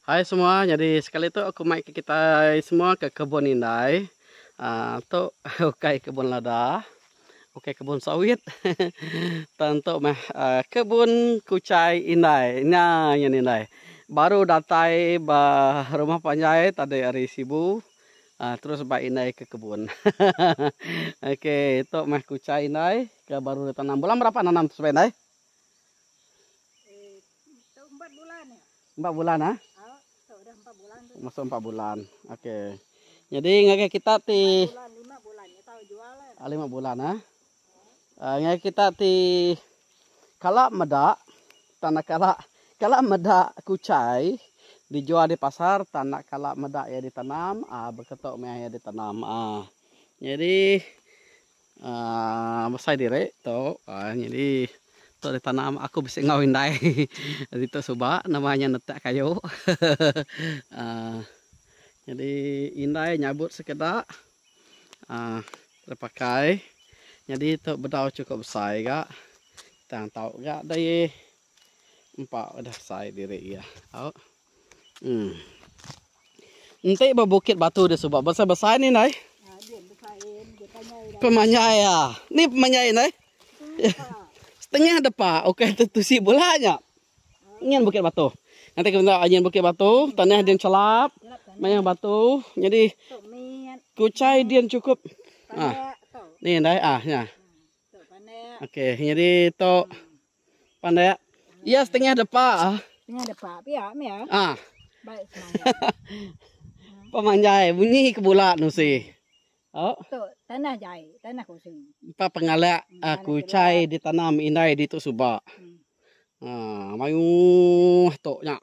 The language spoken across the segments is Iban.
Hai semua nyadi sekali tu aku mai ke kitai semua ke kebun indai aaa tu ukai kebun lada ukai kebun sawit tang tu meh kebun kuchai indai nya nya indai baru datai ba rumah panjai tadi hari sibu aaa terus ba indai ke kebun ahaha ok tu meh kuchai indai ke baru ditanam bulan berapa nanam tu subai indai. Empat bulan ya. Empat bulan ah. Masuk empat bulan. Okey. Jadi ngagai kita ti lima bulan ya tahu jual. Ah, lima bulan ah. Uh, ngagai kita ti kala meda tanah kala kala meda kucai dijual di pasar tanah kala meda ia ditanam ah beketok meh ia ditanam ah. Jadi Aaa besai diri tu aaa nyadi tu adalah tanam aku bisi enggau indai ditu suba nama inya netak kayu aaa nyadi indai nyabut sekeda aaa tepakai nyadi tu bedau chukup besai ga tang tau ga deh empa udah besai diri iya tau. Hmm. Enti ba bukit batu dia suba besai-besai ni nai. Ha dia besai dia panjai dah. Pemanjai ya. Ni pemanjai nai. Setengah depa okey tu tusi bula nya. Nyin bukit batu. Nanti kita tengok nyin bukit batu, tanah dia chelap. Maya batu jadi kuchai dia cukup. Ha. Ni nai ah nya. Okey jadi tu. Pandai ah. Iya setengah depa. Setengah depa pia meh ah. Ah. Baik semangat. Pemanjai bunyi ke bula nusi. Oh. Tu tanah jai, tanah kosong. Empa pengalak hmm, ah, kucai ditanam indai di tu suba. Hmm. Ah, mayuh tu nya.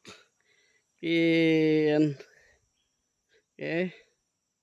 Kin. Okay.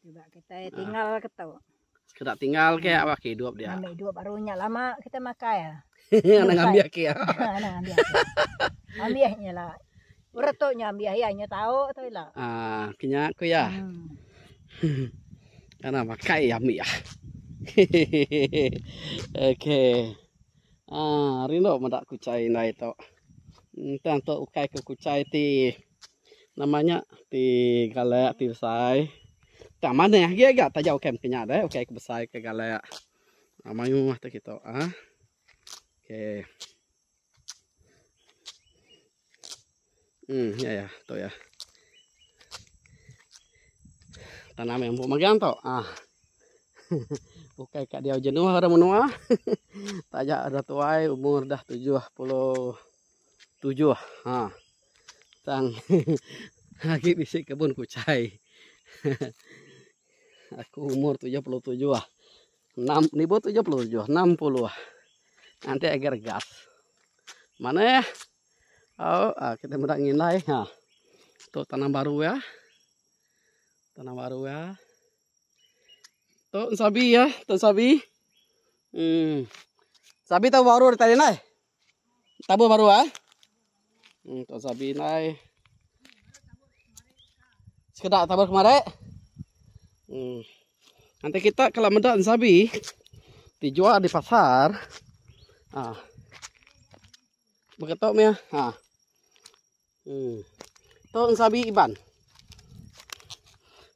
Suba kitai tinggal ke tu. Sekeda tinggal ke awak ke hidup dia. Ambil hidup baru nya lama kita makai. Ana ngambil ke. Ana ngambil. Ambil nya lah. Urut tu nya ambil ya nya tau tu lah. Ah, kenya ku ya. Hmm. Ana makai ambil ya. Okey. Ah, rindu meda kucai indai tu. Entang tu ukai ke kucai ti. Nama nya ti galak ti besai. Tang manah agi ga taja ukai mpi nya deh ukai ke besai ke galak. Ah mayuh tu kitu ah. Okey. Hmm ya ya tu ya. Tanam yang empuk magang tu. Ah. ukai kat dia jenuh orang menua. taja dah tuai umur dah 77. Ha. Tang agi bisi kebun kuchai. Aku umur 77 ah. 6 nibu 77, 60 ah. Nanti agar gas. Mana ya? Oh, ah, kita meda ngindai ha. Tu tanam baru ya. Tanam baru ya. Tu sabi ya, tu sabi. Hmm. Sabi tu baru tadi nai. Tabur baru ai. Hmm Tok Sabi nai. Sekeda tabur kemari. Hmm. Nanti kita kalau meda sabi dijual di pasar. Ah. Begitu meh. Ah. Hmm. Tu sabi Iban.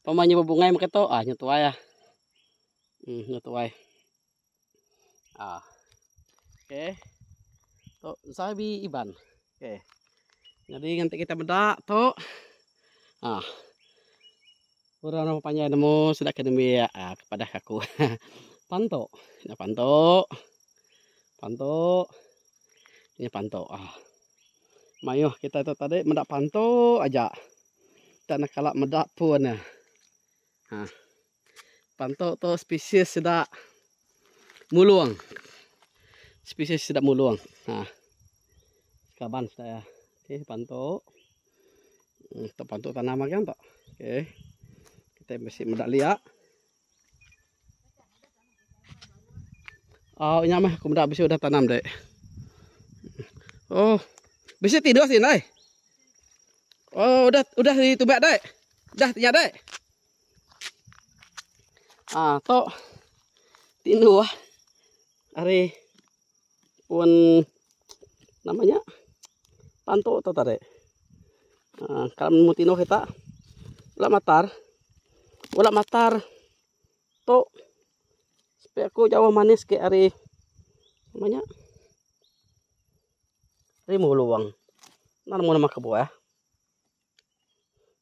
Pamanya bebungai makato ah nyetuai ah. Hmm nyetuai. Ah. Okey. Tu Zabi Iban. Okey. Jadi nanti kita bedak tu. Ah. Orang nama panjang nemu sida ke nembi ah, kepada aku. pantu. Nya pantu. Pantu. Nya pantu. Ah. Mayuh kita tu tadi medak pantu aja. Tak nak kala medak pun. Ah. Pantok tu spesies sida mulung. Spesies sida mulung. Ha. Kaban sida ya. Okey, pantok. Hmm, tu pantok tanam agan tu. Okey. Kita mesti meda lia. Oh, nya mah aku meda bisi udah tanam dek. Oh. Bisi tidur sini, dai. Oh, udah udah ditubak, dek. Dah nya, dek. Haa tu tindu ah ari pun nama nya tantu tu tadi haa ka nemu tindu kita bala matar bala matar tu sepi aku jauh manis ke ari nama nya ari mulong enda nemu nama kebuah.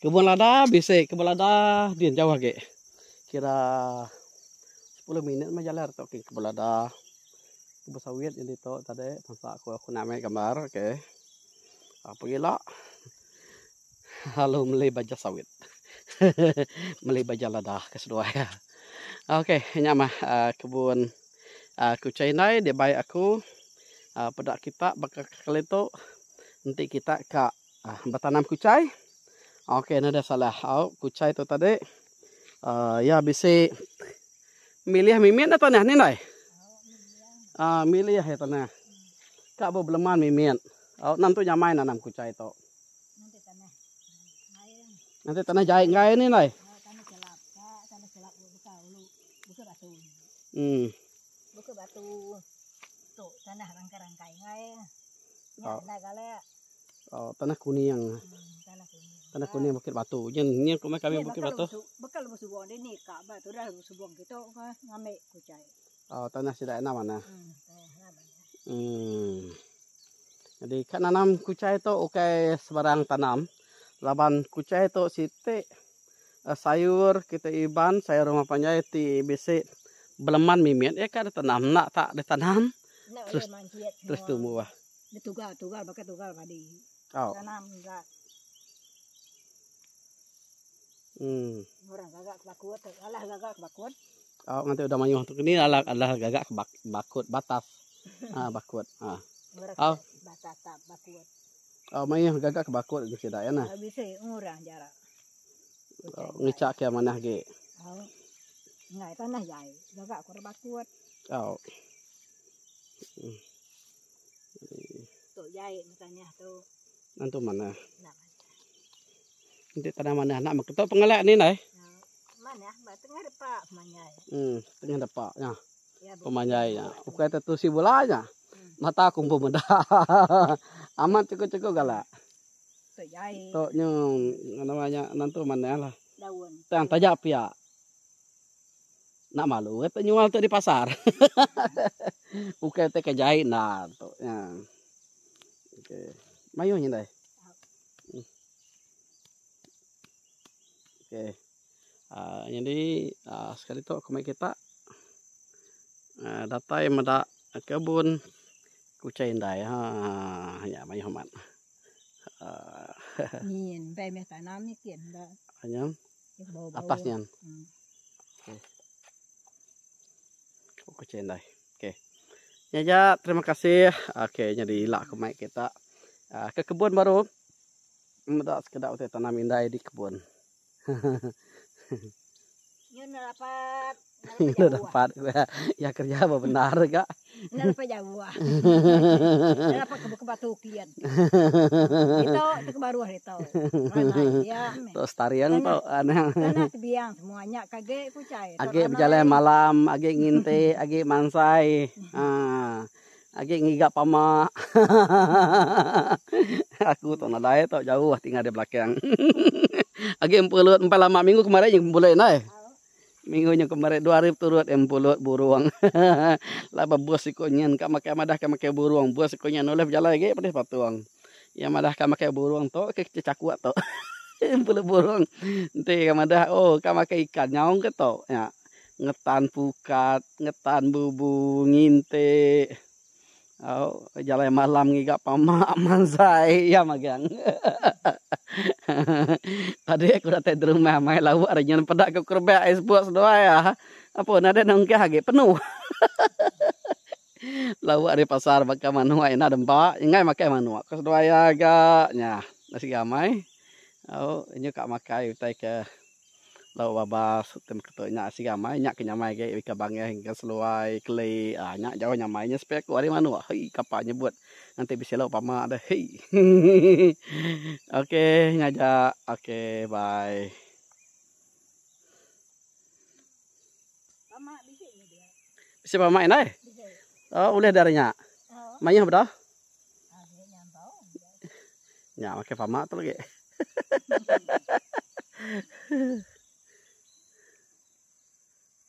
Kebun lada bisi kebun lada din jauh agi kira sepuluh minit meh jalan tu ke kebun lada. Kebun sawit nyadi tu tadi tampa ku aku nda ambil gambar okay. Au pengila lalu meli baja sawit hehehe meli baja lada ke seduai iya. Okay nya mah aaa kebun aaa kuchai ndai dibai aku aaa peda kita baka kali tu enti kita ka Aaa betanam kuchai ok enda ada salah au kuchai tu tadi aaa iya bisi milih mimit enda tanah ni ndai aaa milih aja tanah ka ba beleman mimit au nentu nyamai nanam kuchai tu ngena tanah jai enggai ni ndai em au. Oh tanah kuning. Tanah kuning. Tanah kuning bukit batu. Jen ni rumah kami ya, bukit batu. Bekal lebuh subuh ni ni ka ba tu dah lebuh subuh kita ke ngambil kucai. Oh tanah sida enam mana. Hmm. Hmm. Jadi ka nanam kucai tu ukai sebarang tanam. Laban kucai tu siti eh, sayur kita iban, sayur rumah panjai ti bisi beleman mimit ya ka ditanam nak tak ditanam. Nak terus, terus tumbuh. Terus tumbuh. Betugal tugal baka tugal padi. Au. Tanam gas. Hmm. Orang gagak ke bakut, alah gagak ke bakut. Au nganti udah mayuh tu kini alah alah gagak ke bakut batas. ah bakut. Ah. Au. Batas tak bakut. Au mayuh gagak ke bakut ke sida ya nah. Habis eh orang jara. Ngicak ke manah ge. Au. Ngai tanah jai. Gagak ke bakut. Au. Hmm. Tok jai enda tanah tu. Nentu manah. Enda manah. Enti tanah manah enda meh ketok pengelak ni indai. Manah ba tengah depa pemanjai. Em tengah depa nya. Pemanjai nya. Ukai te tusi bula nya. Mata kumbu meda. Amat chekok-chekok galak. Tok jai. Tok nyong nama nya nentu manah lah. Daun. Tang taja pia. Enda malu kata nyual tu di pasar. Bukai kata ke jai enda tu nya. Okey. Mayuh nya deh. Okey. Uh, jadi uh, sekali tu aku mai kita uh, datai meda kebun kucai indai ha nya mai hormat. Uh, Min, bai meh tanam ni kin. Anyam. Atas nian. Okey. Kau kucing dai. Okey. Nya ja, terima kasih. Okey, nya diila ku mai kita. Uh, ke kebun baru. Meda sekeda utai tanam indai di kebun. Nyun rapat. Enda dapat ku iya. Iya kereja ba bendar ga. Enda dapat jauh ah. Enda dapat ke buka batu kian. Ditu tu ke baruh ditu. Ranai dia meh. Tu staring tu. Tanah tebiang semua nya ke agi ku chai. Agi bejalai malam, agi nginti, agi mansai. Aaa. Agi ngiga pama. Aku tu nadai tu jauh tinggal di belakang. Agi empu lut empai lama minggu kemari nya bulih indai. Minggu nya kemari dua hari beturut iya mpulut burung. Laban bos iku nyin ka makai madah ka makai burung. Bos iku nya nulih bejalai agi pedis patung. Iya madah ka makai burung tu ke kecil chakuk tu. Mpulut burung enti ka madah oh ka makai ikan nyaung ke tu nya. Ngetan pukat, ngetan bubu, ngintik. Au jalai malam ngiga pama manzai iya magang. Tadi aku datai di rumah mai lauk ari nyun peda ku kerebak ais bok seduai iya. Apo enda deh nunggah agi penuh. Lauk ari pasar baka manuk ina demba enggai makai manuk ku seduai iya ga nya. Enda siga amai. Au nyu ka makai utai ke. Lauk babas utai meketu nya asai amai nya ke nyamai agi Ikan Bangeh, Ikan Seluai, Keli aaa nya jauh nyamai nya sepai aku ari manuk hei kapa nyebut nganti bisi lauk pama deh hei hehehe ok nyaja ok bye. Bisi pama indai? Ulih deh ari nya. Mayuh bedah. Nya makai pama tu lagi.